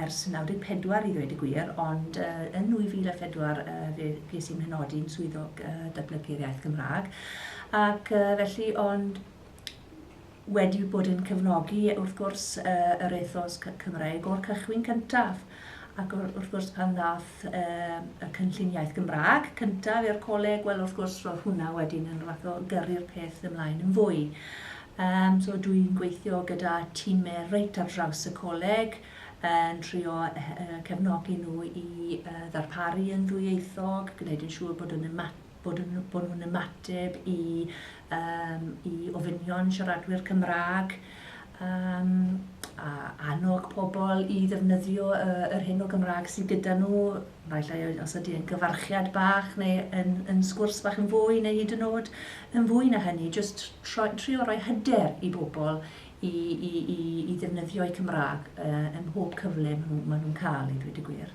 ers 94 i ddweud y gwir, ond yn 2004 fe ges i'n mhenodi'n Swyddog Datblygu'r Iaith Gymraeg ac felly ond wedi bod yn cefnogi wrth gwrs yr ethos Cymreig o'r cychwyn cyntaf ac wrth gwrs pan ddaeth y Cynllun Iaith Gymraeg cyntaf i'r coleg, wel wrth gwrs roedd hwnna wedyn yn fath o gyrru'r peth ymlaen yn fwy. Um, so dwi'n gweithio gyda tîmau reit ar draws y coleg, yn trio cefnogi nhw i uh, ddarparu yn ddwyieithog, gwneud yn siŵr bod yn ymateb bod yn bod nhw'n ymateb i um, i ofynion siaradwyr Cymraeg um, a annog pobl i ddefnyddio uh, yr hyn o Gymraeg sydd gyda nhw, falle os ydy yn gyfarchiad bach neu yn, yn sgwrs bach yn fwy neu hyd yn oed yn fwy na hynny, jyst trio rhoi hyder i bobl i, i, i, i ddefnyddio'u Cymraeg uh, ym mhob cyfle maen nhw'n nhw cael ei ddweud y gwir.